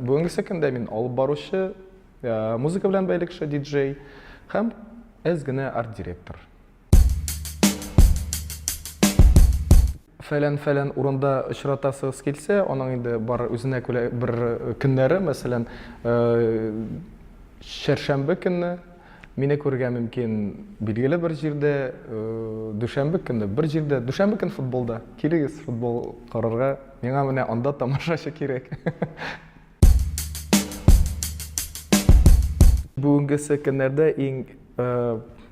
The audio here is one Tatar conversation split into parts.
бүгінгі күндә мин алып баручы э, музыка белән бәйле кеше диджей һәм әз генә арт директор фәлән фәлән урында очратасыгыз килсә аның инде бар үзенә күрә бер көннәре мәсәлән э, чәршәмбе көнне Мине күрергә мөмкин билгеле бер җирдә, дүшәмбе көнне бер җирдә, дүшәмбе көн футболда. Килегез футбол карарга. Миңа менә анда тамашачы кирәк. Бүгенгесе көннәрдә иң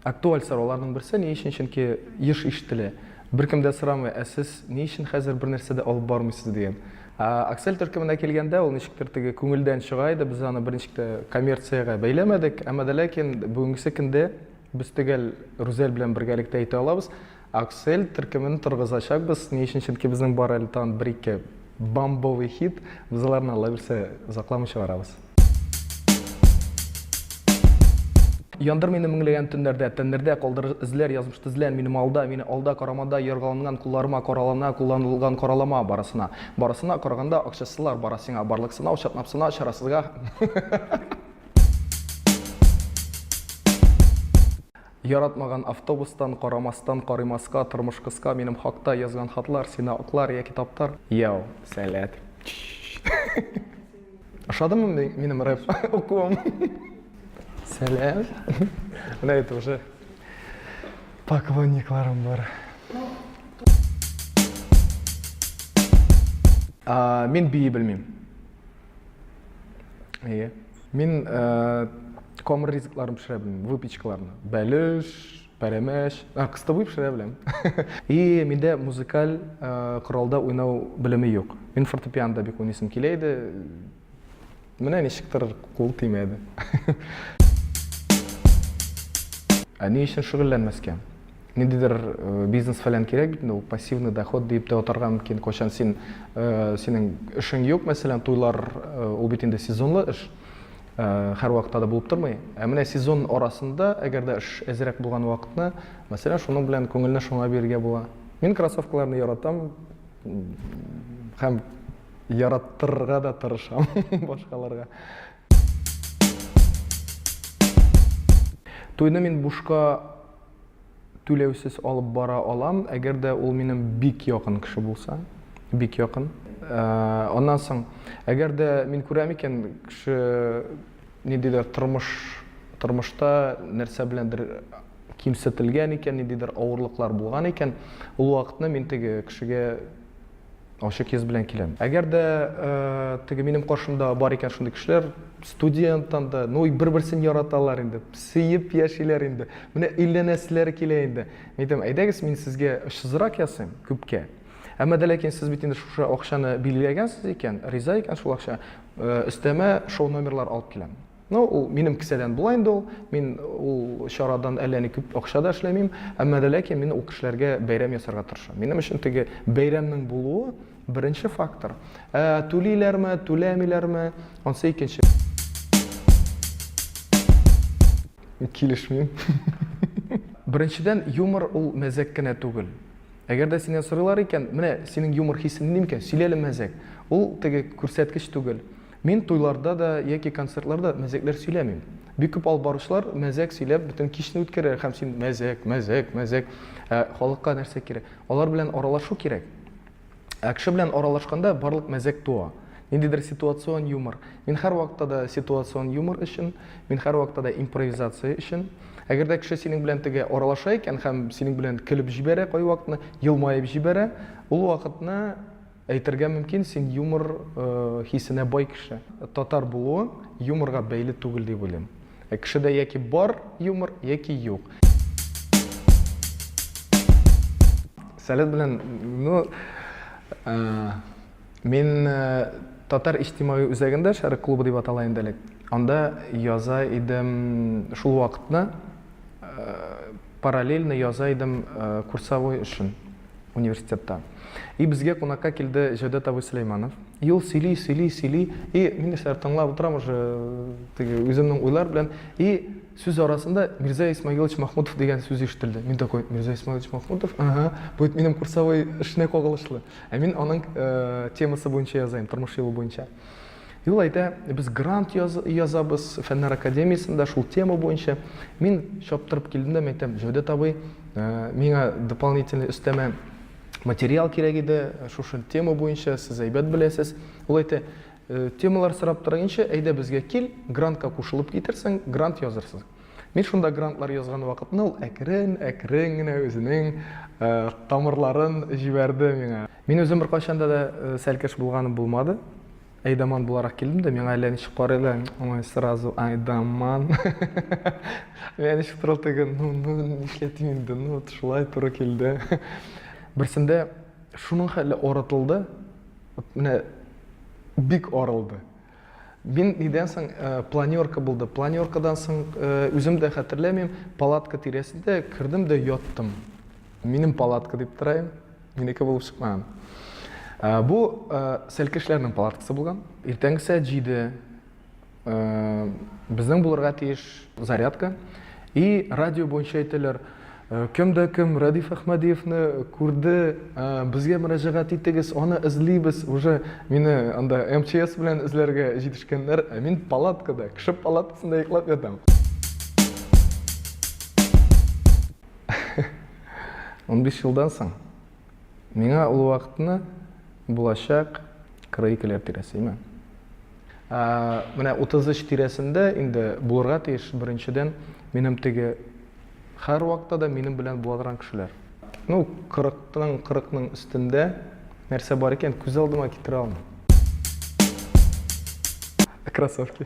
актуаль сорауларның берсе ни өчен? Чөнки еш ишетелә. Беркем дә сорамый, ә сез ни өчен хәзер бернәрсә дә алып бармыйсыз дигән. Ә Аксель төркеменә килгәндә, ул ничектер теге күңелдән чыга иде, без аны берничек тә коммерциягә бәйләмәдек, әмма дә ләкин бүгенгесе көндә без төгәл Рүзәл белән бергәлектә әйтә алабыз, Аксель төркемен торгызачакбыз, ни өчен, чөнки безнең бар әле тагын бер-ике бомбовый хит, без аларны, Аллабирсә, озакламый чыгарабыз. Яндыр мине меңләгән төннәрдә, тәннәрдә калдырыр эзләр, язмыш тезлән минем алда, мине алда карамада, яргаланган кулларыма каралана, кулланылган каралама барысына. Барысына караганда акчасызлар бара сиңа, барлык сынау чатнап сына, чарасызга. Яратмаган автобустан, карамастан, карыймаска, тормыш кыска, минем хакта язган хатлар, сине аклар яки таптар. Йоу, сәләт. Ошадымы ми- минем рэп укуым? Сәлам. Менә это уже поклонникларым бар. А, мин бии белмим. Әйе. Мин э, камыр ризыкларын пешерә белмим, выпечкаларны. Бәлеш, Пәрәмәч. А, кыстыбый пешерә беләм. И, миндә музыкаль коралда уйнау белеме юк. Мин фортепианда бик уйныйсым килә иде. Менә ничектер кул тимәде. Ә ни өчен шөгыльләнмәскә? Ниндидер бизнес-фәлән кирәк бит инде, ул пассивный доход диеп тә атарга мөмкин. Кайчан син, синең эшең юк, мәсәлән, туйлар, ул бит инде сезонлы эш. Ә, һәрвакытта да булып тормый. Ә менә сезон арасында, әгәр дә эш әзрәк булган вакытны, мәсәлән, шуның белән күңелне шуңа бирергә була. Мин кроссовкаларны яратам һәм яраттырырга да тырышам башкаларга. Туйны мин бушка түләүсез алып бара алам, әгәр дә ул минем бик якын кеше булса, бик якын. Э, аннан соң, әгәр дә мин күрәм икән, кеше ниндидер тормыш тормышта нәрсә беләндер кимсетелгән икән, ниндидер авырлыклар булган икән, ул вакытны мин теге кешегә Ачык йөз белән киләм. Әгәр дә теге минем каршымда бар икән шундый кешеләр, студенттан да, ну, бер-берсен яраталар инде, сөеп яшиләр инде. Менә өйләнәселәр килә инде. Мин әйтәм, әйдәгез, мин сезгә очсызрак ясыйм, күпкә. Әмма дә ләкин сез бит инде шушы акчаны билгеләгәнсез икән, риза икән шул акча, өстәмә шоу номерлар алып киләм. Ну, ул минем кесәдән була инде ул. Мин ул чарадан әллә ни күп акча да эшләмим. Әмма дә ләкин мин ул кешеләргә бәйрәм ясарга тырышам. Минем өчен теге бәйрәмнең булуы беренче фактор. Ә түлиләрме, түләмиләрме, ансы икенче. Килешмим. Беренчедән, юмор ул мәзәк кенә түгел. Әгәр дә синнән сорыйлар икән, менә синең юмор хисең нинди микән? Сөйләле мәзәк. Ул теге күрсәткеч түгел. Мин туйларда да яки концертларда мәзәкләр сөйләмим. Бик күп алып баручылар мәзәк сөйләп бөтен кичне үткәрәләр һәм син мәзәк, мәзәк, мәзәк. Ә халыкка нәрсә кирәк? Алар белән аралашу кирәк. Ә кеше белән аралашканда барлык мәзәк туа. Ниндидер ситуацион юмор. Мин һәрвакытта да ситуацион юмор өчен, мин һәрвакытта да импровизация өчен. Әгәр дә кеше синең белән теге аралаша икән һәм синең белән көлеп җибәрә кайвакытны, елмаеп җибәрә, ул вакытны Әйтергә мөмкин, син юмор хисенә бай кеше. Татар булуың юморга бәйле түгел дип уйлыйм. Ә кешедә яки бар юмор, яки юк. Сәләт белән, ну, мин татар иҗтимагый үзәгендә, Шәрык клубы дип атала инде элек, анда яза идем шул вакытны, параллельно яза идем курсовой өчен. университетта. И безгә кунакка килде Җәүдәт абый Сөләйманов. И ул сөйли, сөйли, сөйли. И мин нәрсә тыңлап утырам уже теге үземнең уйлар белән. И сүз арасында Мирза Исмагилович Махмутов дигән сүз ишетелде. Мин такой, Мирза Исмагилович Махмутов? Ага, бу минем курсовой эшенә кагылышлы. Ә мин аның темасы буенча языйм, тормыш юлы буенча. Юл әйтә, без грант яз, язабыз фәннәр академиясендә шул тема буенча. Мин чаптырып килдем дә, әйтәм, Җәүдәт абый, э, миңа дополнительный өстәмә материал кирәк иде, шушы тема буенча сез әйбәт беләсез. Ул әйтә, э, темалар сорап торганчы, әйдә безгә кил, грантка кушылып китерсең, грант язырсың. Мин шунда грантлар язган вакытны ул әкрен, әкрен генә үзенең э, тамырларын җибәрде миңа. Мин үзем беркайчан да сәлкеш булганым булмады. Айдаман буларак килдем дә, миңа әллә ничек карыйлар, ой, сразу Айдаман. Миңа ничек торыл теге, ну, ну, нишләтим инде, ну, шулай туры килде. Берсендә шуның хәле арытылды, менә бик арылды. Мин нидән соң э, планерка булды. Планеркадан соң э, үзем дә хәтерләмим, палатка тирәсендә кердем дә яттым. Минем палатка дип торайым, минеке булып чыкмаган. Э, бу сәлкешләрнең палаткасы булган. Иртәнге сәгать җиде безнең булырга тиеш зарядка. И радио буенча әйтәләр, Кем дә кем Рәдиф Әхмәдиевны күрде, безгә мөрәҗәгать итегез, аны эзлибез. Уже мине анда МЧС белән эзләргә җитешкәннәр, ә мин палаткада, кеше палаткасында йоклап ятам. Унбиш елдан соң Миңа ул вакытны булачак 42-ләр тирәсе име. Менә 33 тирәсендә инде булырга тиеш, беренчедән, минем теге хәр вакытта да минем белән була торган кешеләр. Ну, 40-ның, 40-ның өстендә нәрсә бар икән, күз алдыма китерә алмыйм. Кроссовки.